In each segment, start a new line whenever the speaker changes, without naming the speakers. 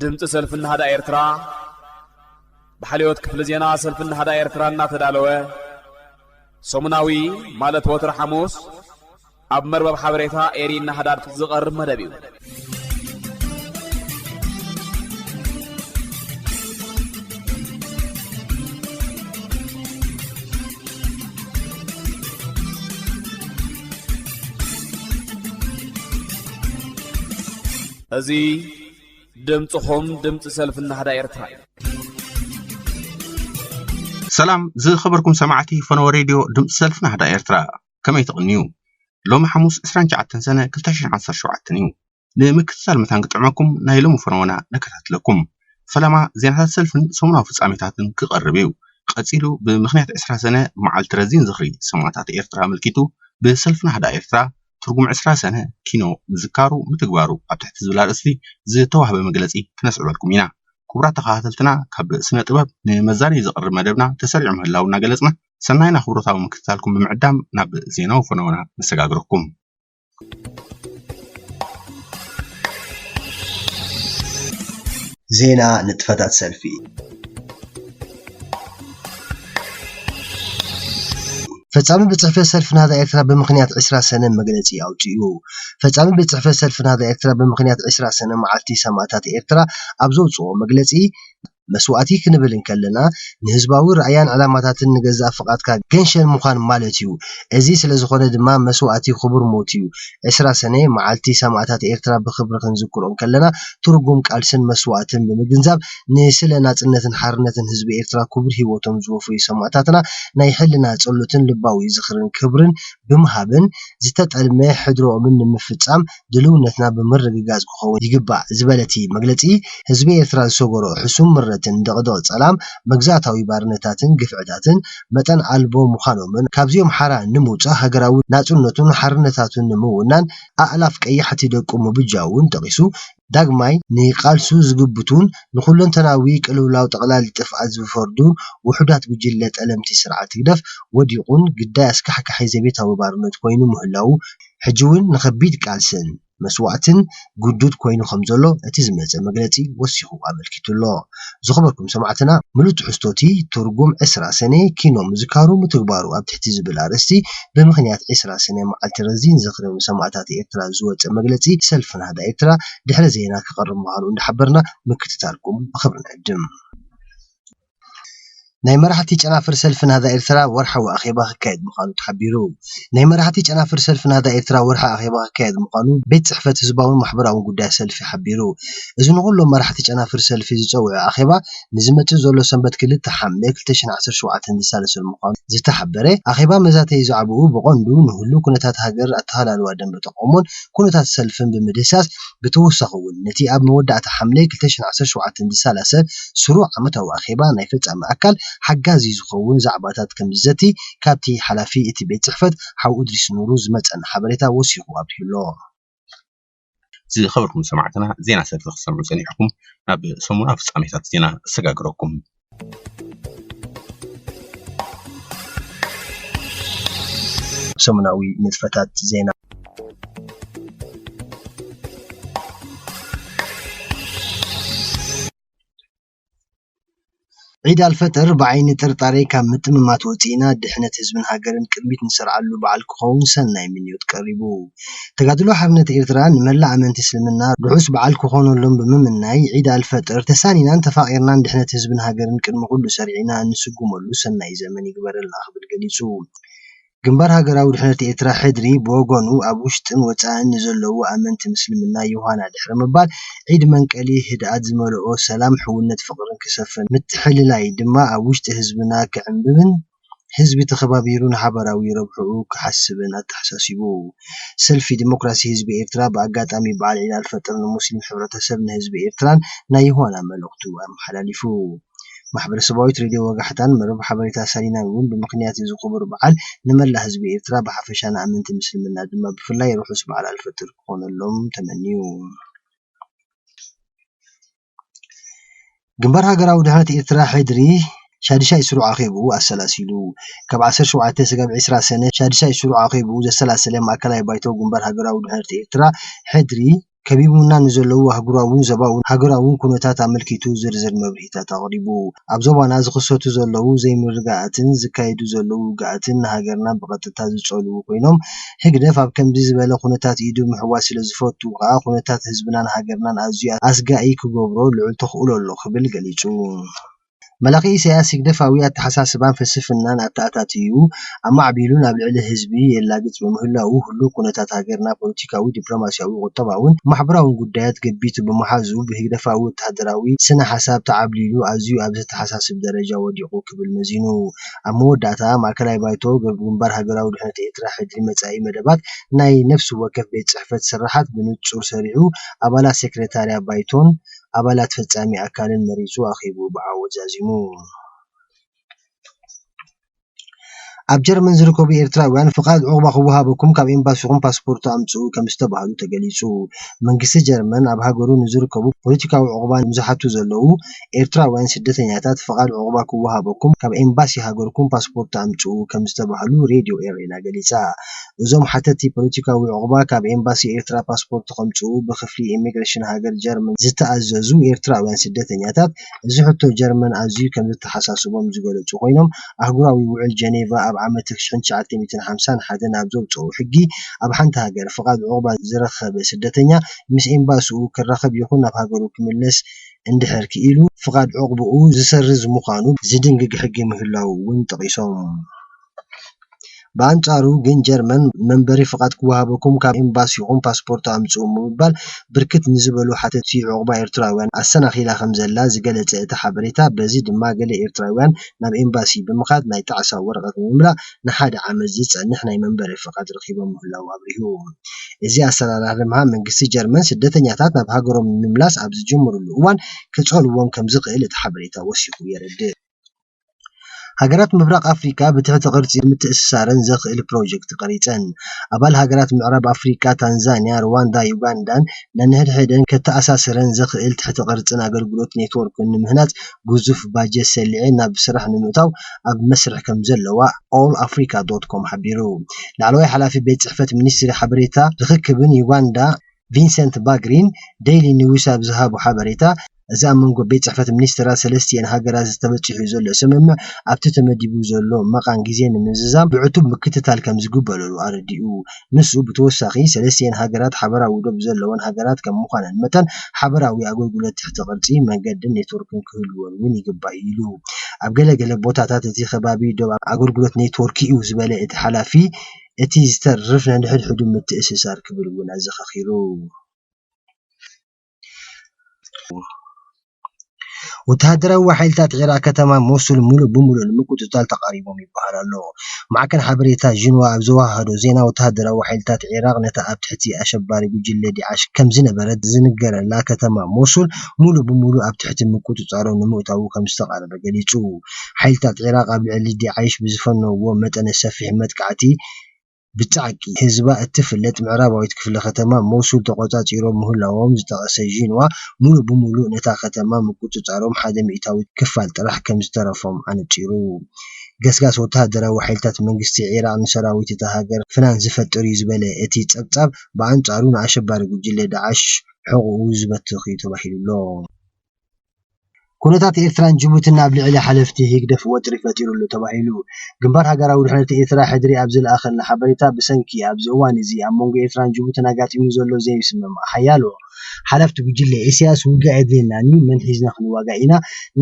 ድምፂ ሰልፊ ናህዳ ኤርትራ ብሓልዮት ክፍሊ ዜና ሰልፊ ናህዳ ኤርትራ እናተዳለወ ሰሙናዊ ማለት ወትሪ ሓሙስ ኣብ መርበብ ሓበሬታ ኤሪ ናህዳ ዝቐርብ መደብ እዩ እዚ ድምጽኹም ድምጺ ሰልፊ ናህዳ ኤርትራ
እዩ። ሰላም ዝኸበርኩም ሰማዕቲ ፈነወ ሬድዮ ድምፂ ሰልፊ ናህዳ ኤርትራ ከመይ ትቕንዩ ሎሚ ሓሙስ 29 ሰነ 2017 እዩ ንምክትታል መታን ክጥዕመኩም ናይ ሎሚ ፈነወና ነከታትለኩም ፈለማ ዜናታት ሰልፍን ሰሙናዊ ፍጻሜታትን ክቐርብ እዩ ቀጺሉ ብምኽንያት 20 ሰነ መዓልቲ ረዚን ዝኽሪ ሰማእታት ኤርትራ ኣመልኪቱ ብሰልፊ ናህዳ ኤርትራ ትርጉም ዕስራ ሰነ ኪኖ ምዝካሩ ምትግባሩ ኣብ ትሕቲ ዝብል ኣርእስቲ ዝተዋህበ መግለፂ ክነስዕበልኩም ኢና። ክቡራት ተኸታተልትና ካብ ስነ ጥበብ ንመዛነዪ ዝቐርብ መደብና ተሰሪዑ ምህላዉ እናገለፅና ሰናይን ኣኽብሮታዊ ምክትታልኩም ብምዕዳም ናብ ዜናዊ ፈነወና ነሰጋግረኩም።
ዜና ንጥፈታት ሰልፊ! ፈፃሚ ቤት ፅሕፈት ሰልፊ ናህዳ ኤርትራ ብምኽንያት ዕስራ ሰነ መግለፂ ኣውፂኡ። ፈፃሚ ቤት ፅሕፈት ሰልፊ ናህዳ ኤርትራ ብምኽንያት ዕስራ ሰነ መዓልቲ ሰማእታት ኤርትራ ኣብ ዘውፅኦ መግለፂ፣ መስዋእቲ ክንብል እንከለና ንህዝባዊ ራእያን ዕላማታትን ንገዛእ ፍቓድካ ገንሸል ምዃን ማለት'ዩ። እዚ ስለዝኾነ ድማ መስዋእቲ ክቡር ሞት'ዩ። ዕስራ ሰነ፣ መዓልቲ ሰማእታት ኤርትራ ብኽብሪ ክንዝክሮ እንከለና ትርጉም ቃልስን መስዋእትን ብምግንዛብ፣ ንስለ ናጽነትን ሓርነትን ህዝቢ ኤርትራ ክቡር ሂወቶም ዝወፈዩ ሰማእታትና ናይ ሕልና ጸሎትን ልባዊ ዝኽርን ክብርን ብምሃብን ዝተጠልመ ሕድሮኦምን ንምፍጻም ድልውነትና ብምርግጋጽ ክኸውን ይግባእ ዝበለ'ቲ መግለጺ፣ ህዝቢ ኤርትራ ዝሰገሮ ሕሱም ምረትን ድቕድቕ ጸላም መግዛእታዊ ባርነታትን ግፍዕታትን መጠን ኣልቦ ምዃኖምን ካብዚኦም ሓራ ንምውጻእ ሃገራዊ ናጽነቱን ሓርነታቱን ንምውናን ኣእላፍ ቀያሕቲ ደቁ ምብጃውን ጠቒሱ፣ ዳግማይ ንቃልሱ ዝግብቱን ንኹለንተናዊ ቅልውላው ጠቕላሊ ጥፍኣት ዝፈርዱን ውሑዳት ጉጅለ ጠለምቲ ስርዓት ህግደፍ ወዲቑን ግዳይ ኣስካሕካሒ ዘቤታዊ ባርነት ኮይኑ ምህላዉ ሕጂ'ውን ንኸቢድ ቃልስን መስዋእትን ግዱድ ኮይኑ ከምዘሎ እቲ ዝመጸ መግለጺ ወሲኹ ኣመልኪቱ'ሎ። ዝኸበርኩም ሰማዕትና ምሉእ ትሕዝቶ እቲ ትርጉም ዕስራ ሰነ ኪኖ ምዝካሩ ምትግባሩ ኣብ ትሕቲ ዝብል ኣርእስቲ ብምኽንያት ዕስራ ሰነ መዓልቲ ረዚን ዝኽሪ ንሰማእታት ኤርትራ ዝወጸ መግለጺ ሰልፊ ናህዳ ኤርትራ ድሕሪ ዜና ክቐርብ ምዃኑ እንዳሓበርና ምክትታልኩም ብኽብሪ ንዕድም። ናይ መራሕቲ ጨናፍር ሰልፊ ናህዳ ኤርትራ ወርሓዊ ኣኼባ ክካየድ ምዃኑ ተሓቢሩ። ናይ መራሕቲ ጨናፍር ሰልፊ ናህዳ ኤርትራ ወርሓዊ ኣኼባ ክካየድ ምዃኑ ቤት ጽሕፈት ህዝባውን ማሕበራውን ጉዳያት ሰልፊ ሓቢሩ። እዚ ንኹሎም መራሕቲ ጨናፍር ሰልፊ ዝጸውዐ ኣኼባ ንዝመጽእ ዘሎ ሰንበት ክልተ ሓምለ ክልተ ሽሕን ዓሰርተ ሸውዓተን ዝሳለሰሉ ምዃኑ ዝተሓበረ ኣኼባ መዛተዪ ዛዕባኡ ብቐንዱ ንህሉው ኩነታት ሃገር፣ ኣተሃላልዋ ደንበ ተቓውሞን ኩነታት ሰልፍን ብምድህሳስ ብተወሳኺ እውን ነቲ ኣብ መወዳእታ ሓምለ ክልተ ሽሕን ዓሰርተ ሸውዓተን ዝሰላሰል ስሩዕ ዓመታዊ ኣኼባ ናይ ፈጻሚ ኣካል ሓጋዚ ዝኸውን ዛዕባታት ከምዝዘቲ ካብቲ ሓላፊ እቲ ቤት ጽሕፈት ሓው እድሪስ ኑሩ ዝመጸና ሓበሬታ ወሲኹ ኣብሪሁ'ሎ።
ዝኸበርኩም ሰማዕትና ዜና ሰልፊ ክትሰምዑ ጸኒሕኩም ናብ ሰሙናዊ ፍጻሜታት ዜና እሰጋግረኩም።
ሰሙናዊ ንጥፈታት ዜና ዒድ ኣልፈጥር ብዓይኒ ጥርጣረ ካብ ምጥምማት ወፂእና ድሕነት ህዝብን ሃገርን ቅድሚት ንሰርዓሉ በዓል ክኸውን ሰናይ ምንዮት ቀሪቡ። ተጋድሎ ሓርነት ኤርትራ ንመላእ ኣመንቲ እስልምና ርሑስ በዓል ክኾነሎም ብምምናይ ዒድ ኣልፈጥር ተሳኒናን ተፋቒርናን ድሕነት ህዝብን ሃገርን ቅድሚ ኩሉ ሰሪዕና እንስጉመሉ ሰናይ ዘመን ይግበረልና ክብል ገሊጹ። ግንባር ሃገራዊ ድሕነት ኤርትራ፣ ሕድሪ፣ ብወገኑ ኣብ ውሽጥን ወጻእን ንዘለዉ ኣመንቲ ምስልምና ዮሃና ድሕሪ ምባል ዒድ መንቀሊ ህድኣት ዝመልኦ ሰላም ሕውነት ፍቕርን ክሰፍን ምትሕልላይ ድማ ኣብ ውሽጢ ህዝብና ክዕምብብን ህዝቢ ተኸባቢሩ ንሓባራዊ ረብሕኡ ክሓስብን ኣተሓሳሲቡ። ሰልፊ ደሞክራሲ ህዝቢ ኤርትራ ብኣጋጣሚ በዓል ዒድ ኣልፈጥር ንሙስሊም ሕብረተሰብ ንህዝቢ ኤርትራን ናይ ዮሃና መልእኽቱ ኣመሓላሊፉ። ማሕበረሰባዊት ሬድዮ ወጋሕታን መርበብ ሓበሬታ ሳሊናን እውን ብምኽንያት እዚ ክቡር በዓል ንመላእ ህዝቢ ኤርትራ ብሓፈሻ ንኣመንቲ ምስልምና ድማ ብፍላይ ርሑስ በዓል ኣልፈጥር ክኾነሎም ተመንዩ። ግንባር ሃገራዊ ድሕነት ኤርትራ፣ ሕድሪ፣ ሻዱሻይ ስሩዕ ኣኼብኡ ኣሰላሲሉ። ካብ ዓሰርተ ሸውዓተ ስጋብ ዕስራ ሰነ ሻዱሻይ ስሩዕ ኣኼብኡ ዘሰላሰለ ማእከላይ ባይቶ ግንባር ሃገራዊ ድሕነት ኤርትራ፣ ሕድሪ፣ ከቢቡና ንዘለዉ ኣህጉራውን ዞባውን ሃገራውን ኩነታት ኣመልኪቱ ዝርዝር መብርሂታት ኣቕሪቡ። ኣብ ዞባና ዝኽሰቱ ዘለዉ ዘይምርግጋኣትን ዝካየዱ ዘለዉ ውግኣትን ንሃገርና ብቐጥታ ዝጸልዉ ኮይኖም፣ ህግደፍ ኣብ ከምዚ ዝበለ ኩነታት ኢዱ ምሕዋስ ስለ ዝፈቱ ከኣ ኩነታት ህዝብናን ሃገርናን ኣዝዩ ኣስጋኢ ክገብሮ ልዑል ተኽእሎ ኣሎ ክብል ገሊጹ። መላኺ ኢሳያስ ህግደፋዊ ኣተሓሳስባን ፍልስፍናን ኣተኣታትዩ ኣማዕቢሉን ኣብ ልዕሊ ህዝቢ የላግጽ ብምህላዉ ህሉው ኩነታት ሃገርና ፖለቲካዊ፣ ዲፕሎማስያዊ፣ ቁጠባውን ማሕበራውን ጉዳያት ገቢቱ ብምሓዙ ብህግደፋዊ ወተሃደራዊ ስነ-ሓሳብ ተዓብሊሉ ኣዝዩ ኣብ ዘተሓሳስብ ደረጃ ወዲቑ ክብል መዚኑ። ኣብ መወዳእታ ማእከላይ ባይቶ ግንባር ሃገራዊ ድሕነት ኤርትራ ሕድሪ መጻኢ መደባት ናይ ነፍሲ ወከፍ ቤት ጽሕፈት ስርሓት ብንጹር ሰሪዑ ኣባላት ሴክረታርያ ባይቶን ኣባላት ፈጻሚ ኣካልን መሪጹ ኣኼብኡ ብዓወት ዛዚሙ። ኣብ ጀርመን ዝርከቡ ኤርትራውያን ፍቓድ ዑቕባ ክወሃበኩም ካብ ኤምባሲኹም ፓስፖርት ኣምጽኡ ከምዝተባህሉ ተገሊጹ። መንግስቲ ጀርመን ኣብ ሃገሩ ንዝርከቡ ፖለቲካዊ ዑቕባ ንዝሓቱ ዘለዉ ኤርትራውያን ስደተኛታት ፍቓድ ዑቕባ ክወሃበኩም ካብ ኤምባሲ ሃገርኩም ፓስፖርት ኣምጽኡ ከምዝተባህሉ ሬድዮ ኤረና ገሊጻ። እዞም ሓተቲ ፖለቲካዊ ዑቕባ ካብ ኤምባሲ ኤርትራ ፓስፖርት ከምጽኡ ብክፍሊ ኢሚግሬሽን ሃገር ጀርመን ዝተኣዘዙ ኤርትራውያን ስደተኛታት እዚ ሕቶ ጀርመን ኣዝዩ ከምዘተሓሳስቦም ዝገለጹ ኮይኖም ኣህጉራዊ ውዕል ጀኔቫ ኣብ ዓመት ትሽሕን ትሽዓተ ሚእትን ሓምሳን ሓደን ኣብ ዘውጸኦ ሕጊ ኣብ ሓንቲ ሃገር ፍቓድ ዑቕባ ዝረከበ ስደተኛ ምስ ኤምባስኡ ክራኸብ ይኹን ናብ ሃገሩ ክምለስ እንድሕር ክኢሉ ፍቓድ ዑቕባኡ ዝሰርዝ ምዃኑ ዝድንግግ ሕጊ ምህላዉ እውን ጠቒሶም። ብኣንጻሩ ግን ጀርመን መንበሪ ፍቓድ ክወሃበኩም ካብ ኤምባሲኹም ፓስፖርት ኣምጽኡ ብምባል ብርክት ንዝበሉ ሓተቲ ዑቕባ ኤርትራውያን ኣሰናኺላ ከምዘላ ዝገለጸ እቲ ሓበሬታ በዚ ድማ ገለ ኤርትራውያን ናብ ኤምባሲ ብምኻድ ናይ ጣዕሳ ወረቐት ንምምላእ ንሓደ ዓመት ዝጸንሕ ናይ መንበሪ ፍቓድ ረኺቦም ምህላዉ ኣብሪሁ። እዚ ኣሰራርሓ ድማ መንግስቲ ጀርመን ስደተኛታት ናብ ሃገሮም ንምምላስ ኣብ ዝጅምርሉ እዋን ክጸልዎም ከም ዝኽእል እቲ ሓበሬታ ወሲኹ የረድእ። ሃገራት ምብራቕ ኣፍሪቃ ብትሕቲ ቅርጺ ንምትእስሳረን ዘኽእል ፕሮጀክት ቀሪጸን። ኣባል ሃገራት ምዕራብ ኣፍሪቃ ታንዛንያ፣ ርዋንዳን ዩጋንዳን ነንሕድሕደን ከተኣሳስረን ዘኽእል ትሕተ ቅርጽን ኣገልግሎት ኔትዎርክን ንምህናጽ ግዙፍ ባጀት ሰሊዐን ናብ ስራሕ ንምእታው ኣብ መስርሕ ከምዘለዋ ኦል ኣፍሪካ ዶት ኮም ሓቢሩ። ላዕለዋይ ሓላፊ ቤት ፅሕፈት ሚኒስትሪ ሓበሬታን ርኽክብን ዩጋንዳ ቪንሰንት ባግሪን ደይሊ ኒውስ ኣብ ዝሃቦ ሓበሬታ፣ እዚ ኣብ መንጎ ቤት ፅሕፈት ሚኒስትራት ሰለስቲኤን ሃገራት ተበፂሑ ዘሎ ስምምዕ ኣብቲ ተመዲቡ ዘሎ መቓን ግዜ ንምዝዛም ብዕቱብ ምክትታል ከምዝግበረሉ ኣረዲኡ። ንሱ ብተወሳኺ ሰለስቲኤን ሃገራት ሓበራዊ ዶብ ዘለወን ሃገራት ከም ምዃነን መጠን ሓበራዊ ኣገልግሎት ትሕተ ቅርጺ፣ መንገድን ኔትወርክን ክህልወን እውን ይግባእ ኢሉ። ኣብ ገለ ገለ ቦታታት እቲ ከባቢ ዶብ ኣገልግሎት ኔትወርክ'ዩ ዝበለ እቲ ሓላፊ፣ እቲ ዝተርፍ ነንሕድሕዱ ምትእስሳር ክብል እውን ኣዘኻኺሩ። ወተሃደራዊ ሓይልታት ዒራቕ ከተማ ሞሱል ምሉእ ብምሉእ ንምቁጽጻር ተቓሪቦም ይበሃል ኣሎ። ማዕከን ሓበሬታ ዢንዋ ኣብ ዘወሃሃዶ ዜና፣ ወተሃደራዊ ሓይልታት ዒራቕ ነታ ኣብ ትሕቲ ኣሸባሪ ጉጅለ ዳዕሽ ከም ዝነበረት ዝንገረላ ከተማ ሞሱል ምሉእ ብምሉእ ኣብ ትሕቲ ምቁጽጻሮም ንምእታዉ ከም ዝተቓረበ ገሊጹ። ሓይልታት ዒራቕ ኣብ ልዕሊ ዳዕሽ ብዝፈነዉዎ መጠነ ሰፊሕ መጥቃዕቲ፣ ብጻዕቂ ህዝባ እትፍለጥ ምዕራባዊት ክፍለ ከተማ ሞሱል ተቖጻጺሮም ምህላዎም ዝጠቐሰ ዢንዋ፣ ምሉእ ብምሉእ ነታ ከተማ ምቁጽጻሮም ሓደ ሚእታዊት ክፋል ጥራሕ ከም ዝተረፎም ኣነጺሩ። ገስጋስ ወተሃደራዊ ሓይልታት መንግስቲ ዒራቕ ንሰራዊት እታ ሃገር ፍናን ዝፈጥር'ዩ ዝበለ እቲ ጸብጻብ፣ ብኣንጻሩ ንኣሸባሪ ጉጅለ ዳዕሽ ሕቖኡ ዝበትኽ'ዩ ተባሂሉ'ሎ። ኩነታት ኤርትራን ጅቡትን ኣብ ልዕሊ ሓለፍቲ ህግደፍ ወጥሪ ፈጢሩ'ሎ ተባሂሉ። ግንባር ሃገራዊ ድሕነት ኤርትራ፣ ሕድሪ፣ ኣብ ዝለኣኸልና ሓበሬታ፣ ብሰንኪ ኣብዚ እዋን'ዚ ኣብ መንጎ ኤርትራን ጅቡትን ኣጋጢሙ ዘሎ ዘይምስምማዕ፣ ሓያሎ። ሓለፍቲ ጉጅለ ኢሳያስ ውግእ ኣየድልየናን'ዩ፣ መን ሒዝና ክንዋጋእ ኢና፣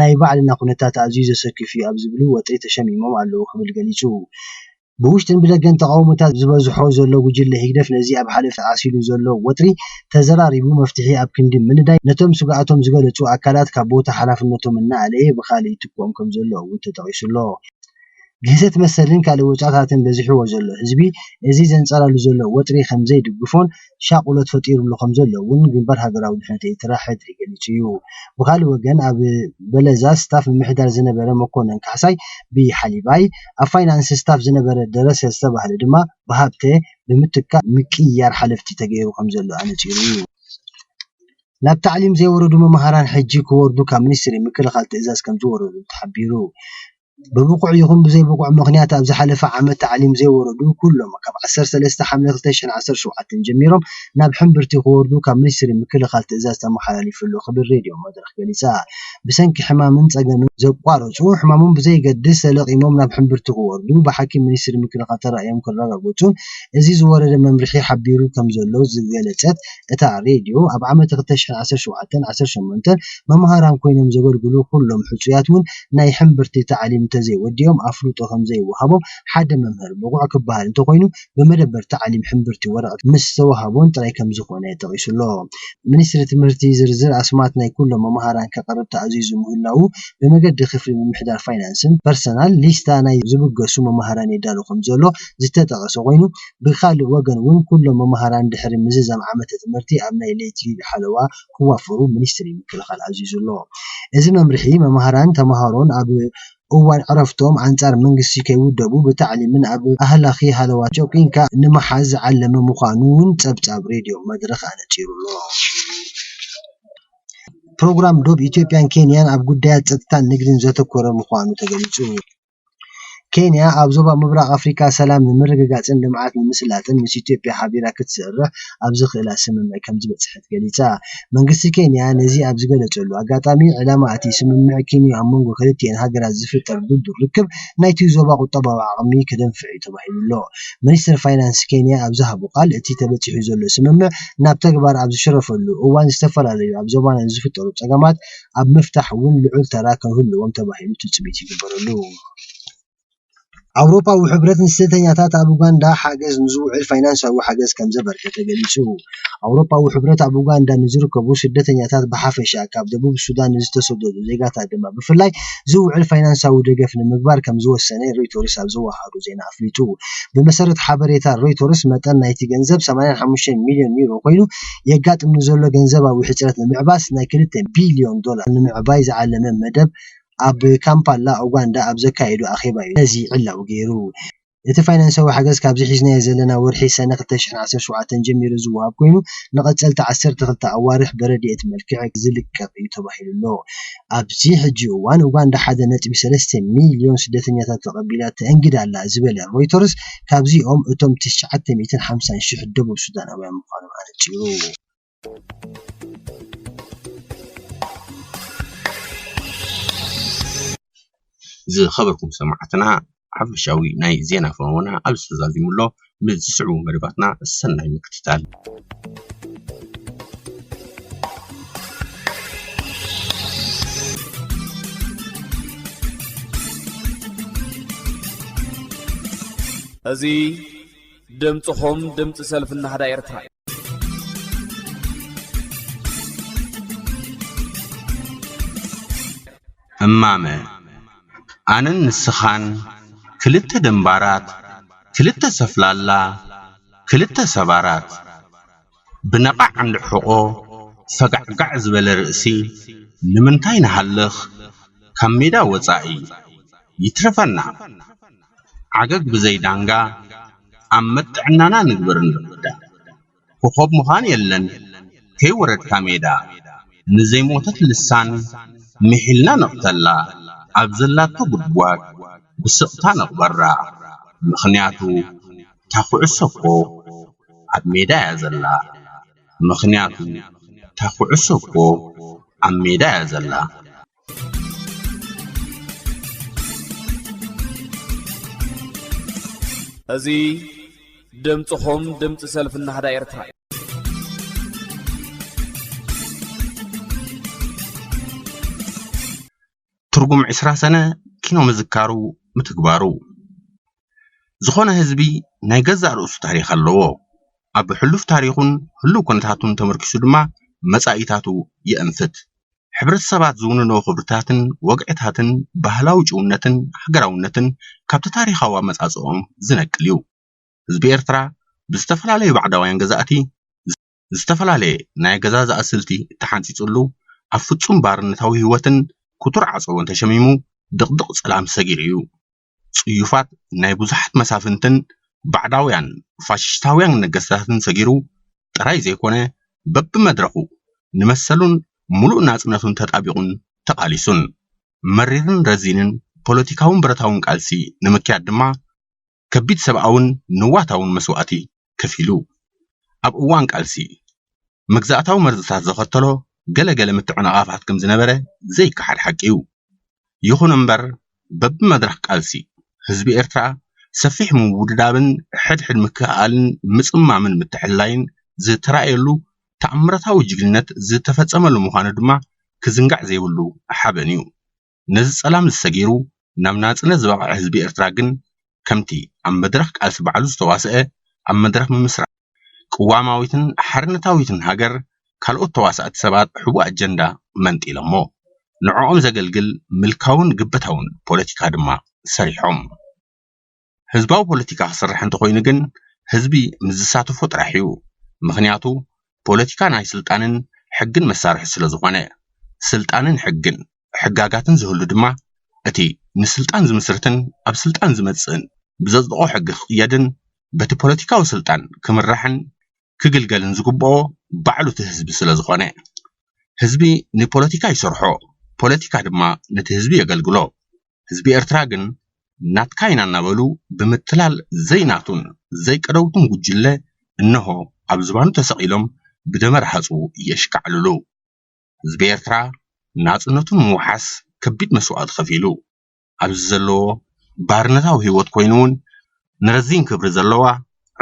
ናይ ባዕልና ኩነታት ኣዝዩ ዘሰክፍ'ዩ ኣብ ዝብሉ ወጥሪ ተሸሚሞም ኣለዉ ክብል ገሊጹ። ብውሽጥን ብደገን ተቓውሞታት ዝበዝሖ ዘሎ ጉጅለ ህግደፍ ነዚ ኣብ ሓለፍቲ ዓሲሉ ዘሎ ወጥሪ ተዘራሪቡ መፍትሒ ኣብ ክንዲ ምንዳይ ነቶም ስግኣቶም ዝገለጹ ኣካላት ካብ ቦታ ሓላፍነቶም እናኣለየ ብኻልእ ይትክኦም ከምዘሎ እውን ተጠቒሱ'ሎ። ግህሰት መሰልን ካልእ ወጽዓታትን በዚሕዎ ዘሎ ህዝቢ እዚ ዘንጸላሉ ዘሎ ወጥሪ ከምዘይድግፎን ሻቕሎት ፈጢሩሉ ከምዘሎ'ውን ግንባር ሃገራዊ ድሕነት ኤርትራ፣ ሕድሪ፣ ገሊጹ'ዩ። ብኻልእ ወገን ኣብ በለዛ ስታፍ ምምሕዳር ዝነበረ መኮነን ካሕሳይ፣ ብሓሊባይ፣ ኣብ ፋይናንስ ስታፍ ዝነበረ ደረሰ ዝተባህለ ድማ ብሃብተ ብምትካእ ምቅይያር ሓለፍቲ ተገይሩ ከምዘሎ ኣነጺሩ'ዩ። ናብ ታዕሊም ዘይወረዱ መማህራን ሕጂ ክወርዱ ካብ ሚኒስትሪ ምክልኻል ትእዛዝ ከምዝወረዶም ተሓቢሩ። ብብቑዕ ይኹን ብዘይብቑዕ ምኽንያት ኣብ ዝሓለፈ ዓመት ታዕሊም ዘይወረዱ ኩሎም ካብ ዓሰርተ ሰለስተ ሓምለ ክልተ ሽሕን ዓሰርተ ሸውዓተን ጀሚሮም ናብ ሕምብርቲ ክወርዱ ካብ ሚኒስትሪ ምክልኻል ትእዛዝ ተመሓላሊፍሉ ክብል ሬድዮ መድረኽ ገሊጻ። ብሰንኪ ሕማምን ጸገምን ዘቋረጹ ሕማሞም ብዘይገድስ ተለቒሞም ናብ ሕምብርቲ ክወርዱ ብሓኪም ሚኒስትሪ ምክልኻል ተራእዮም ክረጋገጹን እዚ ዝወረደ መምርሒ ሓቢሩ ከምዘሎ ዝገለጸት እታ ሬድዮ ኣብ ዓመተ ክልተ ሽሕን ዓሰርተ ሸውዓተን ዓሰርተ ሸሞንተን መማህራን ኮይኖም ዘገልግሉ ኩሎም ሕጹያት ውን ናይ ሕምብርቲ ታዕሊም እንተዘይወዲኦም ኣፍልጦ ከምዘይወሃቦም ሓደ መምህር ብቑዕ ክበሃል እንተኾይኑ ብመደበር ታዕሊም ሕምብርቲ ወረቕት ምስ ዝተወሃቦን ጥራይ ከምዝኾነ ጠቒሱ'ሎ። ሚኒስትሪ ትምህርቲ ዝርዝር ኣስማት ናይ ኩሎም መማህራን ከቕርብ ተኣዚዙ ምህላዉ ብመገዲ ክፍሊ ምምሕዳር ፋይናንስን ፐርሰናል ሊስታ ናይ ዝብገሱ መማህራን የዳሉ ከምዘሎ ዝተጠቐሰ ኮይኑ ብኻልእ ወገን'ውን ኩሎም መማህራን ድሕሪ ምዝዛም ዓመተ ትምህርቲ ኣብ ናይ ለይቲ ሓለዋ ክዋፈሩ ሚኒስትሪ ምክልኻል ኣዚዙ'ሎ። እዚ መምርሒ፣ መማህራንን ተማሃሮን ኣብ እዋን ዕረፍቶም ኣንጻር መንግስቲ ከይውደቡ ብታዕሊምን ኣብ ኣህላኺ ሃለዋትን ጨኲንካ ንምሓዝ ዝዓለመ ምዃኑ'ውን ጸብጻብ ሬድዮ መድረኽ ኣነጺሩ'ሎ። ፕሮግራም ዶብ ኢትዮጵያን ኬንያን ኣብ ጉዳያት ጸጥታን ንግድን ዘተኮረ ምዃኑ ተገሊጹ። ኬንያ ኣብ ዞባ ምብራቕ ኣፍሪካ ሰላም ንምርግጋፅን ልምዓት ንምስላጥን ምስ ኢትዮጵያ ሓቢራ ክትሰርሕ ኣብ ዘኽእላ ስምምዕ ከምዝበፅሐት ገሊፃ። መንግስቲ ኬንያ ነዚ ኣብ ዝገለፀሉ ኣጋጣሚ፣ ዕላማ እቲ ስምምዕ ኪንዮ ኣብ መንጎ ክልቲኣን ሃገራት ዝፍጠር ድልዱል ርክብ ናይቲ ዞባ ቁጠባዊ ዓቕሚ ከደንፍዕ እዩ ተባሂሉ'ሎ። ሚኒስተር ፋይናንስ ኬንያ ኣብ ዝሃቦ ቃል፣ እቲ ተበፂሑ ዘሎ ስምምዕ ናብ ተግባር ኣብ ዝሽረፈሉ እዋን ዝተፈላለዩ ኣብ ዞባና ንዝፍጠሩ ፀገማት ኣብ ምፍታሕ እውን ልዑል ተራ ክህልዎም ተባሂሉ ትፅቢት ይግበረሉ። ኣውሮፓዊ ሕብረት ንስደተኛታት ኣብ ኡጋንዳ ሓገዝ ንዝውዕል ፋይናንሳዊ ሓገዝ ከምዘበርከተ ገሊፁ። ኣውሮፓዊ ሕብረት ኣብ ኡጋንዳ ንዝርከቡ ስደተኛታት ብሓፈሻ ካብ ደቡብ ሱዳን ንዝተሰደዱ ዜጋታት ድማ ብፍላይ ዝውዕል ፋይናንሳዊ ደገፍ ንምግባር ከምዝወሰነ ሮይተርስ ኣብ ዘወሃሃዶ ዜና ኣፍሊጡ። ብመሰረት ሓበሬታ ሮይተርስ መጠን ናይቲ ገንዘብ ሰማንያን ሓሙሽተን ሚልዮን ዩሮ ኮይኑ፣ የጋጥም ንዘሎ ገንዘባዊ ሕጽረት ንምዕባስ ናይ ክልተ ቢልዮን ዶላር ንምዕባይ ዝዓለመ መደብ ኣብ ካምፓላ፣ ኡጋንዳ ኣብ ዘካየዶ ኣኼባ'ዩ ነዚ ዕላዊ ገይሩ። እቲ ፋይናንሳዊ ሓገዝ ካብዚ ሒዝናዮ ዘለና ወርሒ ሰነ ክልተ ሽሕን ዓሰርተ ሸውዓተን ጀሚሩ ዝወሃብ ኮይኑ፣ ንቐጸልቲ ዓሰርተ ክልተ ኣዋርሕ ብረድኤት መልክዕ ዝልቀቕ'ዩ ተባሂሉ'ሎ። ኣብዚ ሕጂ እዋን ኡጋንዳ ሓደ ነጥቢ ሰለስተ ሚልዮን ስደተኛታት ተቐቢላ ተእንግድ ኣላ ዝበለ ሮይተርስ፣ ካብዚኦም እቶም ትሽዓተ ሚእትን ሓምሳን ሽሕ ደቡብ ሱዳናውያን ምዃኖም ኣነጺሩ።
ዝኸበርኩም ሰማዕትና ሓፈሻዊ ናይ ዜና ፈነወና ኣብዚ ተዛዚሙ ኣሎ። ምስ ዝስዕቡ መደባትና ሰናይ ምክትታል።
እዚ ድምፅኹም ድምፂ ሰልፊ ናህዳ ኤርትራ እዩ
እማመ ኣነን ንስኻን ክልተ ደምባራት ክልተ ሰፍላላ ክልተ ሰባራት ብነቓዕ እንድሕቆ ፈጋዕጋዕ ዝበለ ርእሲ ንምንታይ ንሃልኽ ካብ ሜዳ ወጻኢ ይትረፈና ዓገግ ብዘይ ዳንጋ ኣብ መጥዕናና ንግበር እንርዳ ኮኾብ ምዃን የለን ከይወረድካ ሜዳ ንዘይሞተት ልሳን ምሒልና ንቕተላ ኣብ ዘላቶ ጉድጓድ ብስቕታ ንቕበራ ምኽንያቱ እታ ኩዕሶ እኮ ኣብ ሜዳ እያ ዘላ ምኽንያቱ እታ ኩዕሶ እኮ ኣብ ሜዳ እያ ዘላ።
እዚ ድምጽኹም ድምጺ ሰልፊ ናህዳ ኤርትራ እዩ።
ትርጉም ዕስራ ሰነ ኪኖ ምዝካሩ ምትግባሩ። ዝኾነ ህዝቢ ናይ ገዛእ ርእሱ ታሪኽ ኣለዎ። ኣብ ሕሉፍ ታሪኹን ህሉው ኩነታቱን ተመርኪሱ ድማ መጻኢታቱ የእንፍት። ሕብረተሰባት ዝውንኖ ክብርታትን ወግዕታትን ባህላዊ ጭውነትን ሃገራውነትን ካብቲ ታሪኻዊ ኣመጻጽእኦም ዝነቅል እዩ። ህዝቢ ኤርትራ ብዝተፈላለዩ ባዕዳውያን ገዛእቲ፣ ዝተፈላለየ ናይ ኣገዛዝኣ ስልቲ ተሓንጺጹሉ፣ ኣብ ፍጹም ባርነታዊ ህይወትን ክቱር ዓጸቦን ተሸሚሙ ድቕድቕ ጸላም ሰጊሩ ኢዩ። ጽዩፋት ናይ ብዙሓት መሳፍንትን ባዕዳውያን ፋሽሽታውያን ነገስታትን ሰጊሩ ጥራይ ዘይኮነ፣ በብመድረኹ ንመሰሉን ምሉእ ናጽነቱን ተጣቢቑን ተቓሊሱን። መሪርን ረዚንን ፖለቲካውን ብረታውን ቃልሲ ንምክያድ ድማ፣ ከቢድ ሰብኣውን ንዋታውን መስዋእቲ ከፊሉ። ኣብ እዋን ቃልሲ፣ መግዛእታዊ መርዝታት ዘኸተሎ ገለ ገለ ምትዕንቓፋት ከም ዝነበረ ዘይከሓድ ሓቂ'ዩ። ይኹን እምበር፣ በብመድረኽ ቃልሲ፣ ህዝቢ ኤርትራ ሰፊሕ ምውድዳብን ሕድሕድ ምክእኣልን ምጽማምን ምትሕልላይን ዝተራእየሉ ተኣምራታዊ ጅግንነት ዝተፈጸመሉ ምዃኑ ድማ ክዝንጋዕ ዘይብሉ ሓበን'ዩ። ነዚ ጸላምዚ ሰጊሩ ናብ ናጽነት ዝበቕዐ ህዝቢ ኤርትራ ግን ከምቲ ኣብ መድረኽ ቃልሲ ባዕሉ ዝተዋሰኣ ኣብ መድረኽ ምምስራት ቅዋማዊትን ሓርነታዊትን ሃገር ካልኦት ተዋሳእቲ ሰባት ሕቡእ ኣጀንዳ መንጢሎሞ ንዕኦም ዘገልግል ምልካውን ግበታውን ፖለቲካ ድማ ሰሪሖም። ህዝባዊ ፖለቲካ ክስራሕ እንተኾይኑ ግን ህዝቢ ምስ ዝሳተፎ ጥራሕ እዩ። ምኽንያቱ ፖለቲካ ናይ ስልጣንን ሕግን መሳርሒ ስለዝኾነ። ስልጣንን ሕግን ሕጋጋትን ዝህሉ ድማ እቲ ንስልጣን ዝምስርትን ኣብ ስልጣን ዝመፅእን ብዘፅድቖ ሕጊ ክቕየድን በቲ ፖለቲካዊ ስልጣን ክምራሕን ክግልገልን ዝግበኦ ባዕሉ እቲ ህዝቢ ስለዝኾነ። ህዝቢ ንፖለቲካ ይሰርሖ፣ ፖለቲካ ድማ ነቲ ህዝቢ የገልግሎ። ህዝቢ ኤርትራ ግን ናትካ ኢና እናበሉ ብምትላል ዘይናቱን ዘይቀደውቱን ጉጅለ እነሆ ኣብ ዝባኑ ተሰቒሎም ብደመ ረሃጹ የሽካዕልሉ። ህዝቢ ኤርትራ ናጽነቱ ንምውሓስ ከቢድ መስዋእቲ ከፊሉ። ኣብዚ ዘለዎ ባርነታዊ ህይወት ኮይኑ'ውን ንረዚን ክብሪ ዘለዋ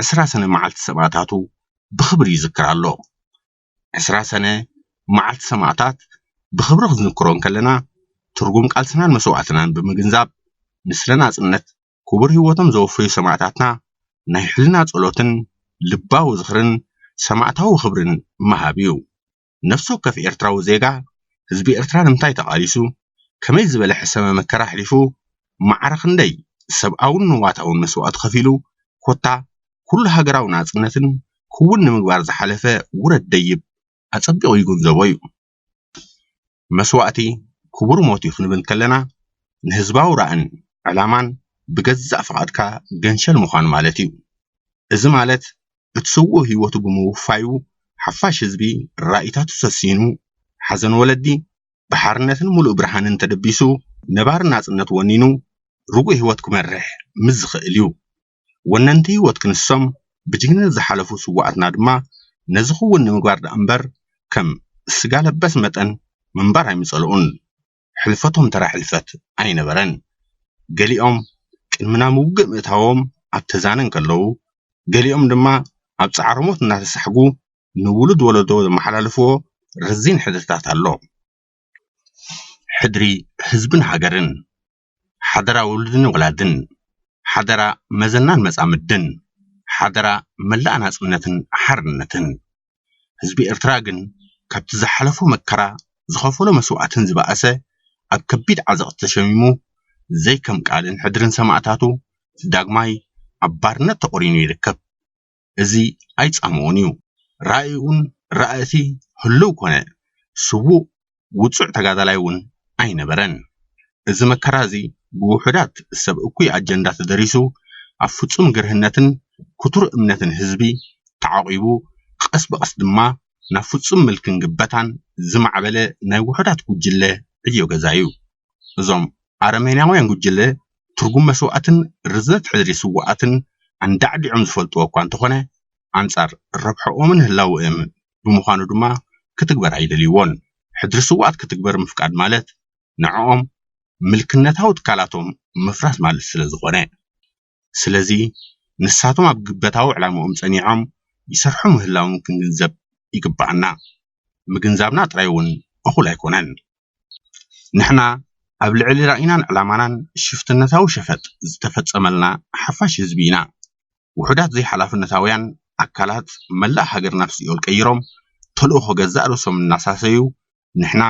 ዕስራ ሰነ መዓልቲ ሰማእታቱ ብኽብሪ ይዝክር ኣሎ። ዕስራ ሰነ መዓልቲ ሰማእታት ብኽብሪ ክንዝክሮ እንከለና ትርጉም ቃልስናን መስዋእትናን ብምግንዛብ ንስለ ናጽነት ክቡር ህይወቶም ዘወፈዩ ሰማእታትና ናይ ሕልና ጸሎትን ልባዊ ዝኽርን ሰማእታዊ ክብርን ምሃብ እዩ። ነፍሲ ወከፍ ኤርትራዊ ዜጋ ህዝቢ ኤርትራ ንምንታይ ተቓሊሱ፣ ከመይ ዝበለ ሕሰመ መከራ ኣሕሊፉ፣ ማዕረ ክንደይ ሰብኣውን ንዋታውን መስዋእቲ ከፊሉ ኮታ ኩሉ ሃገራዊ ናጽነትን ክውን ንምግባር ዝሓለፈ ውረድ ደይብ ኣጸቢቑ ይግንዘቦ እዩ። መስዋእቲ ክቡር ሞት እዩ ክንብል ከለና ንህዝባዊ ራእን ዕላማን ብገዛእ ፍቓድካ ገንሸል ምዃን ማለት እዩ። እዚ ማለት እቲ ስዉእ ህይወቱ ብምውፋዩ ሓፋሽ ህዝቢ ራኢታቱ ሰሲኑ፣ ሓዘን ወለዲ ብሓርነትን ምሉእ ብርሃንን ተደቢሱ፣ ነባሪ ናጽነት ወኒኑ ርጉእ ህይወት ክመርሕ ምስ ዝኽእል እዩ። ወነንቲ ህይወት ክንሶም ብጅግንነት ዝሓለፉ ስዉኣትና ድማ ነዚ ክዉን ንምግባር ደኣ'ምበር ከም ስጋ ለበስ መጠን ምንባር ኣይምጸልኡን። ሕልፈቶም ተራ ሕልፈት ኣይነበረን። ገሊኦም ቅድሚ ናብ ውግእ ምእታዎም ኣብ ተዛነ እንከለዉ፣ ገሊኦም ድማ ኣብ ጻዕረ ሞት እናተሳሕጉ ንውሉድ ወለዶ ዘመሓላለፍዎ ረዚን ሕድርታት ኣሎ። ሕድሪ ህዝብን ሃገርን! ሓደራ ውሉድን ወላድን፣ ሓደራ መዘናን መጻምድን፣ ሓደራ መላእ ናጽነትን ሓርነትን። ህዝቢ ኤርትራ ግን ካብቲ ዝሓለፎ መከራ ዝኸፈሎ መስዋእትን ዝበኣሰ ኣብ ከቢድ ዓዘቕቲ ተሸሚሙ ዘይከም ቃልን ሕድርን ሰማእታቱ ዳግማይ ኣብ ባርነት ተቖሪኑ ይርከብ። እዚ ኣይጻምዎን እዩ። ራኢኡን ራእቲ ህሉው ኮነ ስዉእ ውጹዕ ተጋዳላይ እውን ኣይነበረን። እዚ መከራ እዚ ብውሑዳት ሰብ እኩይ ኣጀንዳ ተደሪሱ ኣብ ፍጹም ግርህነትን ክቱር እምነትን ህዝቢ ተዓቚቡ ቐስ ብቐስ ድማ ናብ ፍጹም ምልክን ግበታን ዝማዕበለ ናይ ውሑዳት ጉጅለ ዕዮ ገዛ እዩ። እዞም ኣረሜናውያን ጉጅለ ትርጉም መስዋእትን ርዝነት ሕድሪ ስዉኣትን ኣንዳዕዲዖም ዝፈልጥዎ እኳ እንተኾነ ኣንጻር ረብሕኦምን ህላወኦምን ብምዃኑ ድማ ክትግበር ኣይደልይዎን። ሕድሪ ስዉኣት ክትግበር ምፍቃድ ማለት ንዕኦም ምልክነታዊ ትካላቶም ምፍራስ ማለት ስለዝኾነ። ስለዚ ንሳቶም ኣብ ግበታዊ ዕላምኦም ጸኒዖም ይሰርሑ ምህላዎም ክንግንዘብ ይግበኣና። ምግንዛብና ጥራይ ውን እኹል ኣይኮነን። ንሕና ኣብ ልዕሊ ራኢናን ዕላማናን ሽፍትነታዊ ሸፈጥ ዝተፈጸመልና ሓፋሽ ህዝቢ ኢና። ውሑዳት ዘይሓላፍነታውያን ኣካላት መላእ ሃገር ናብ ሲኦል ቀይሮም ተልእኾ ገዛእ ርእሶም እናሳሰዩ ንሕና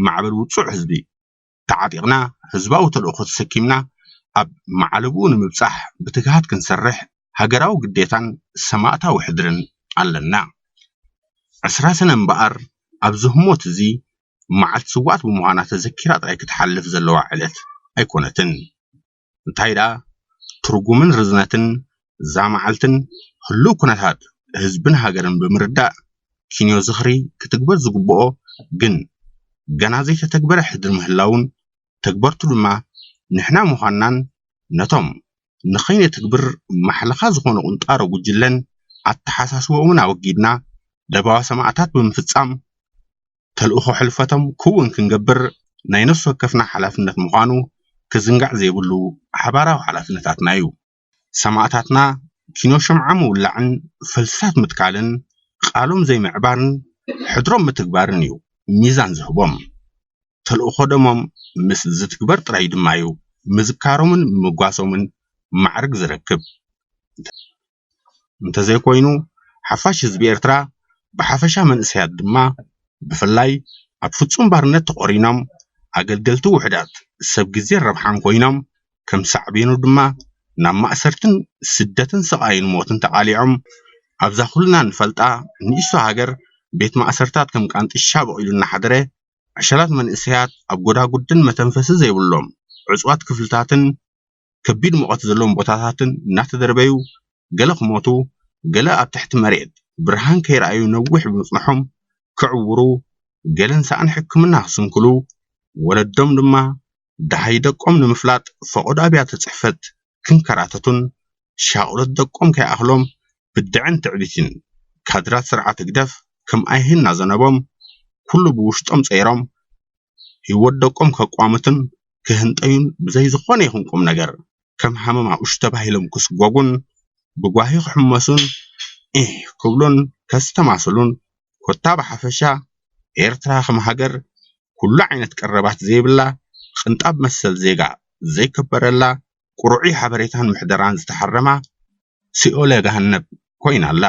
ማዕበል ውጹዕ ህዝቢ ተዓጢቕና ህዝባዊ ተልእኾ ተሰኪምና ኣብ መዓልብኡ ንምብጻሕ ብትግሃት ክንሰርሕ ሃገራዊ ግዴታን ሰማእታዊ ሕድርን ኣለና። ዕስራ ሰነ እምበኣር ኣብዚ ህሞት እዚ መዓልቲ ስውኣት ብምዃና ተዘኪራ ጥራይ ክትሓልፍ ዘለዋ ዕለት ኣይኮነትን። እንታይ ደኣ ትርጉምን ርዝነትን እዛ መዓልትን ህሉው ኩነታት ህዝብን ሃገርን ብምርዳእ ኪንዮ ዝኽሪ ክትግበር ዝግብኦ ግን ገና ዘይተተግበረ ሕድሪ ምህላዉን ተግበርቱ ድማ ንሕና ምዃንናን ነቶም ንኸይነትግብር ማሕለኻ ዝኾኑ ቁንጣሮ ጉጅለን ኣተሓሳስበኦምን ኣወጊድና ለበዋ ሰማእታት ብምፍጻም ተልእኾ ሕልፈቶም ክውን ክንገብር ናይ ነፍሲ ወከፍና ሓላፍነት ምዃኑ ክዝንጋዕ ዘይብሉ ሓባራዊ ሓላፍነታትና እዩ። ሰማእታትና ኪኖ ሽምዓ ምውላዕን ፈልስታት ምትካልን ቃሎም ዘይምዕባርን ሕድሮም ምትግባርን እዩ ሚዛን ዝህቦም። ተልእኾ ደሞም ምስ ዝትግበር ጥራይ ድማ'ዩ ምዝካሮምን ምምጓሶምን ማዕርግ ዝረክብ። እንተ። እንተዘይኮይኑ ሓፋሽ ህዝቢ ኤርትራ ብሓፈሻ መንእሰያት ድማ ብፍላይ ኣብ ፍጹም ባርነት ተቖሪኖም ኣገልገልቲ ውሑዳት ሰብ ግዜን ረብሓን ኮይኖም ከም ሳዕቤኑ ድማ ናብ ማእሰርትን ስደትን ስቓይን ሞትን ተቓሊዖም ኣብዛ ኩልና ንፈልጣ ንእሽቶ ሃገር ቤት ማእሰርታት ከም ቃንጥሻ በቒሉ እናሓደረ ዕሸላት መንእሰያት ኣብ ጎዳጉድን መተንፈሲ ዘይብሎም ዕጹዋት ክፍልታትን ከቢድ ሙቐት ዘለዎም ቦታታትን እናተደርበዩ ገለ ክሞቱ ገለ ኣብ ትሕቲ መሬት ብርሃን ከይረኣዩ ነዊሕ ብምጽንሖም ክዕውሩ ገለን ሳእኒ ሕክምና ክስንክሉ ወለዶም ድማ ደሃይ ደቆም ንምፍላጥ ፈቖዶ ኣብያተ ጽሕፈት ክንከራተቱን ሻቕሎት ደቆም ከይኣኽሎም ብድዐን ትዕቢትን ካድራት ስርዓት ህግደፍ ከም ኣይሂ እናዘነቦም ኩሉ ብውሽጦም ጸይሮም ህይወት ደቆም ከቋምቱን ክህንጠዩን ብዘይ ዝኾነ ይኹን ቁምነገር ከም ሃመማ ኡሽ ተባሂሎም ክስጎጉን ብጓሂ ክሕመሱን ዒህ ክብሉን ከስተማስሉን ኮታ ብሓፈሻ ኤርትራ ከም ሃገር ኩሉ ዓይነት ቀረባት ዘይብላ ቕንጣብ መሰል ዜጋ ዘይከበረላ ቁርዑይ ሓበሬታን ምሕደራን ዝተሓረማ ሲኦለ ገሃነብ ኮይና ኣላ።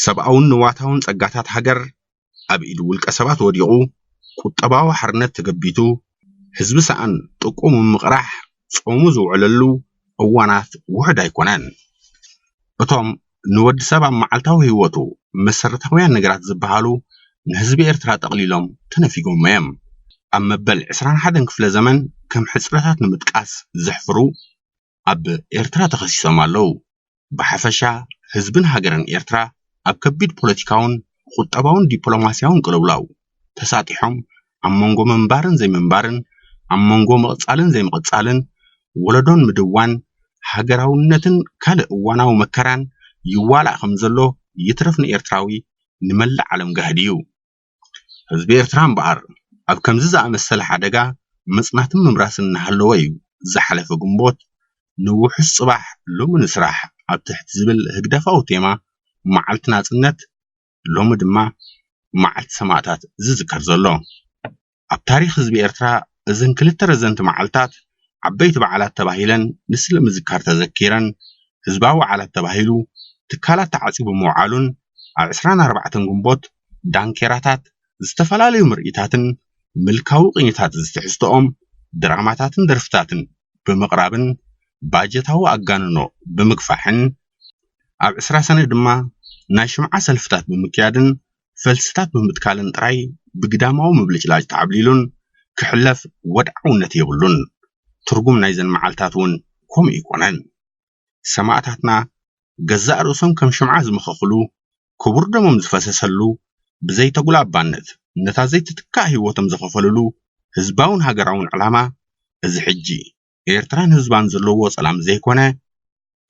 ሰብኣውን ንዋታውን ጸጋታት ሃገር ኣብ ኢድ ውልቀ ሰባት ወዲቑ፣ ቁጠባዊ ሓርነት ተገቢቱ፣ ህዝቢ ሰኣን ጥቅኡ ምምቕራሕ ጾሙ ዝውዕለሉ እዋናት ውሑድ ኣይኮነን። እቶም ንወዲ ሰብ ኣብ መዓልታዊ ህይወቱ መሰረታውያን ነገራት ዝበሃሉ ንህዝቢ ኤርትራ ጠቕሊሎም ተነፊጎሞ'ዮም። ኣብ መበል ዕስራን ሓደን ክፍለ ዘመን ከም ሕጽረታት ንምጥቃስ ዘሕፍሩ ኣብ ኤርትራ ተኸሲሶም ኣለዉ። ብሓፈሻ ህዝብን ሃገርን ኤርትራ ኣብ ከቢድ ፖለቲካውን ቁጠባውን ዲፕሎማስያውን ቅልውላው ተሳጢሖም ኣብ መንጎ ምንባርን ዘይምንባርን ኣብ መንጎ ምቕጻልን ዘይምቕጻልን ወለዶን ምድዋን ሃገራውነትን ካልእ እዋናዊ መከራን ይዋላእ ከምዘሎ ይትረፍ ንኤርትራዊ ንመላእ ዓለም ጋህዲ'ዩ። ህዝቢ ኤርትራ እምበኣር ኣብ ከምዚ ዝኣመሰለ ሓደጋ ምጽናትን ምምራስን እናሃለዎ'ዩ ዝሓለፈ ግንቦት ንውሑስ ጽባሕ ሎሚ ንስራሕ ኣብ ትሕቲ ዝብል ህግደፋዊ ቴማ መዓልቲ ናጽነት ሎሚ ድማ መዓልቲ ሰማእታት ዝዝከር ዘሎ። ኣብ ታሪኽ ህዝቢ ኤርትራ እዘን ክልተ ረዘንቲ መዓልታት ዓበይቲ በዓላት ተባሂለን ንስለ ምዝካር ተዘኪረን ህዝባዊ በዓላት ተባሂሉ ትካላት ተዓጺቡ ምውዓሉን ኣብ ዕስራን ኣርባዕተን ግንቦት ዳንኬራታት ዝተፈላለዩ ምርኢታትን ምልካዊ ቅኝታት ዝትሕዝትኦም ድራማታትን ደርፍታትን ብምቕራብን ባጀታዊ ኣጋንኖ ብምግፋሕን ኣብ ዕስራ ሰነ ድማ ናይ ሽምዓ ሰልፍታት ብምክያድን ፈልስታት ብምትካልን ጥራይ ብግዳማዊ ምብልጭላጭ ተዓብሊሉን ክሕለፍ ወድዓውነት የብሉን። ትርጉም ናይዘን መዓልታት እውን ከምኡ ኣይኮነን። ሰማእታትና ገዛእ ርእሶም ከም ሽምዓ ዝመኸኽሉ፣ ክቡር ደሞም ዝፈሰሰሉ፣ ብዘይተጉላባነት ነታ ዘይትትካእ ህይወቶም ዘኸፈልሉ ህዝባውን ሃገራውን ዕላማ እዚ ሕጂ፣ ኤርትራን ህዝባን ዘለዎ ሰላም ዘይኮነ፣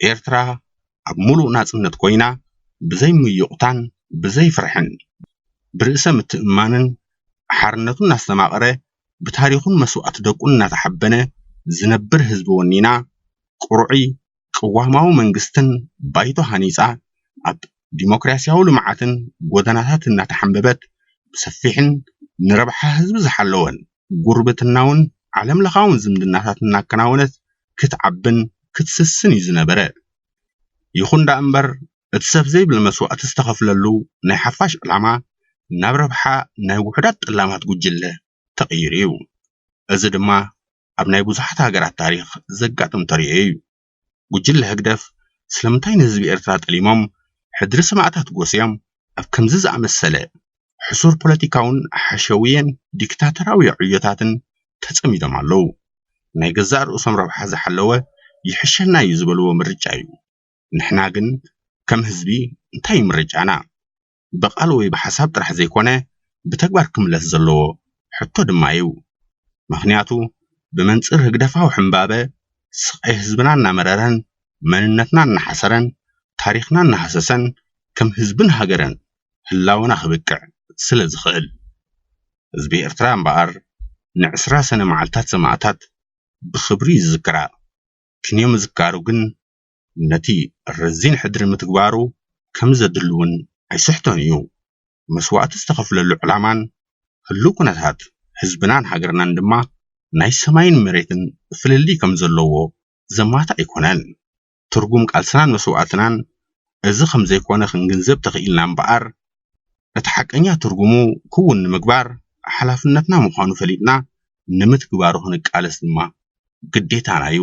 ኤርትራ ኣብ ምሉእ ናጽነት ኮይና ብዘይ ምዩቕታን ብዘይ ፍርሕን፣ ብርእሰ ምትእምማንን ሓርነቱ እናስተማቐረ፣ ብታሪኹን መስዋእቲ ደቁን እናተሓበነ ዝነብር ህዝቢ ወኒና ቅሩዕይ ቅዋማዊ መንግስትን ባይቶ ሃኒፃ ኣብ ዲሞክራሲያዊ ልምዓትን ጎደናታት እናተሓምበበት ብሰፊሕን ንረብሓ ህዝቢ ዝሓለወን ጉርብትናውን ዓለም ለኻውን ዝምድናታት እናከናወነት ክትዓብን ክትስስን እዩ ዝነበረ። ይኹን ደኣምበር እቲ ሰፍ ዘይብል መስዋእቲ ዝተኸፍለሉ ናይ ሓፋሽ ዕላማ ናብ ረብሓ ናይ ውሑዳት ጠላማት ጉጅለ ተቐይሩ እዩ። እዚ ድማ ኣብ ናይ ብዙሓት ሃገራት ታሪኽ ዘጋጥም ተርእዮ እዩ። ጉጅለ ህግደፍ ስለምንታይ ንህዝቢ ኤርትራ ጠሊሞም ሕድሪ ሰማእታት ጎስዮም ኣብ ከምዚ ዝኣመሰለ ሕሱር ፖለቲካውን ሓሸውየን ዲክታተራውዮ ዕዮታትን ተጸሚዶም ኣለዉ? ናይ ገዛእ ርእሶም ረብሓ ዝሓለወ ይሕሸና እዩ ዝበልዎ ምርጫ እዩ። ንሕና ግን ከም ህዝቢ እንታይ እዩ ምርጫና? ብቓል ወይ ብሓሳብ ጥራሕ ዘይኮነ ብተግባር ክምለስ ዘለዎ ሕቶ ድማ እዩ። ምኽንያቱ ብመንፅር ህግደፋዊ ሕምባበ ስቓይ ህዝብና እናመረረን መንነትና እናሓሰረን ታሪኽና እናሃሰሰን ከም ህዝብን ሃገርን ህላወና ክብቅዕ ስለዝኽእል። ህዝቢ ኤርትራ እምበኣር ንዕስራ ሰነ መዓልታት ሰማእታት ብኽብሪ ይዝክራ ክንዮ ምዝካሩ ግን ነቲ ረዚን ሕድሪ ምትግባሩ ከምዘድሊ'ውን ኣይስሕቶን እዩ። መስዋእቲ ዝተኸፍለሉ ዕላማን ህሉው ኩነታት ህዝብናን ሃገርናን ድማ ናይ ሰማይን መሬትን ፍልልይ ከምዘለዎ ዘማትእ ኣይኮነን። ትርጉም ቃልስናን መስዋእትናን እዚ ከምዘይኮነ ክንግንዘብ ተኽኢልና እምበኣር እቲ ሓቀኛ ትርጉሙ ክውን ንምግባር ሓላፍነትና ምዃኑ ፈሊጥና ንምትግባሩ ክንቃለስ ድማ ግዴታና እዩ።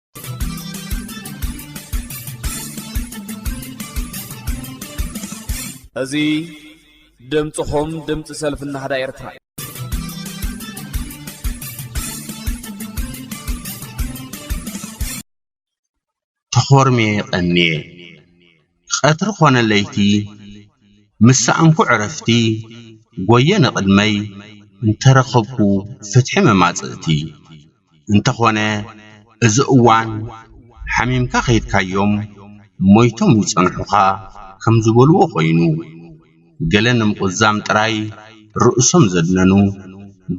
እዚ ድምፅኹም ድምፂ ሰልፊ ናህዳ ኤርትራ እዩ
ተኾርምየ ቀንየ። ቐትሪ ኮነ ለይቲ ምስ ሰኣንኩ ዕረፍቲ ጎየ ንቕድመይ እንተረኸብኩ ፍትሒ መማጽእቲ እንተኾነ እዚ እዋን ሓሚምካ ከይድካዮም ሞይቶም ይጸንሑኻ ከምዝበልዎ ኮይኑ ገለ ንምቑዛም ጥራይ ርእሶም ዘድነኑ፣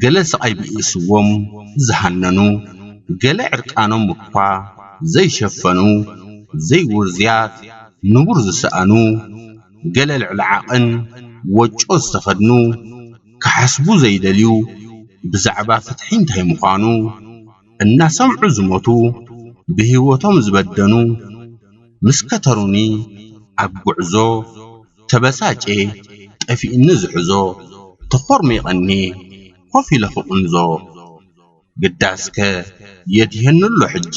ገለ ስቓይ ብኢሱዎም ዝሃነኑ፣ ገለ ዕርቃኖም እኳ ዘይሸፈኑ፣ ዘይውርዙያት ንቡር ዝሰኣኑ፣ ገለ ልዕሊ ዓቕን ወጮ ዝተኸድኑ፣ ክሓስቡ ዘይደልዩ ብዛዕባ ፍትሒ እንታይ ምዃኑ እናሰምዑ ዝሞቱ፣ ብህይወቶም ዝበደኑ ምስ ከተሩኒ ኣብ ጉዕዞ ተበሳጭየ ጠፊኡኒ ዝሕዞ ተኾርሚቐኒ ኮፍ ኢለ ክቕንዞ ግዳስከ የት ይሀኑ'ሎ ሕጂ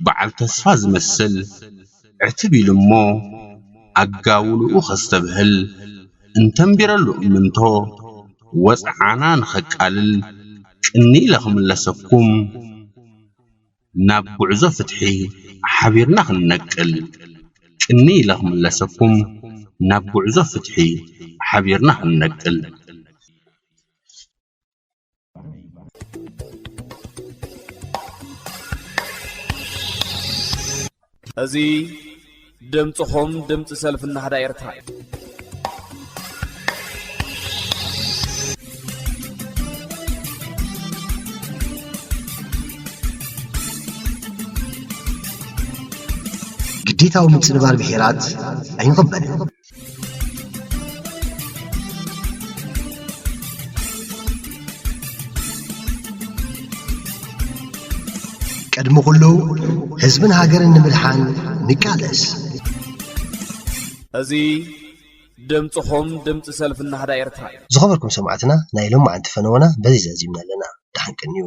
በዓል ተስፋ ዝመስል ዕትብ ኢሉ'ሞ ኣጋውልኡ ከስተብህል እንተንቢረሉ እምንቶ ወጽዓና ንኸቃልል ቅንይ ኢለ ክምለሰኩም ናብ ጉዕዞ ፍትሒ ሓቢርና ክንነቅል። ቅንይ ኢለ ክምለሰኩም ናብ ጉዕዞ ፍትሒ ሓቢርና ክንነቅል።
እዚ ድምጽኹም ድምጺ ሰልፊ ናህዳ ኤርትራ እዩ።
ግዴታዊ ምጽንባር ብሄራት ኣይንቕበልን። ቅድሚ ኩሉ ህዝብን ሃገርን ንምድሓን ንቃለስ።
እዚ ድምጽኹም ድምጺ ሰልፊ ናህዳ ኤርትራ እዩ።
ዝኸበርኩም ሰማዕትና ናይ ሎማዓንቲ
ፈነወና
በዚ ዛዚምና ኣለና። ደሓን ቀንዩ።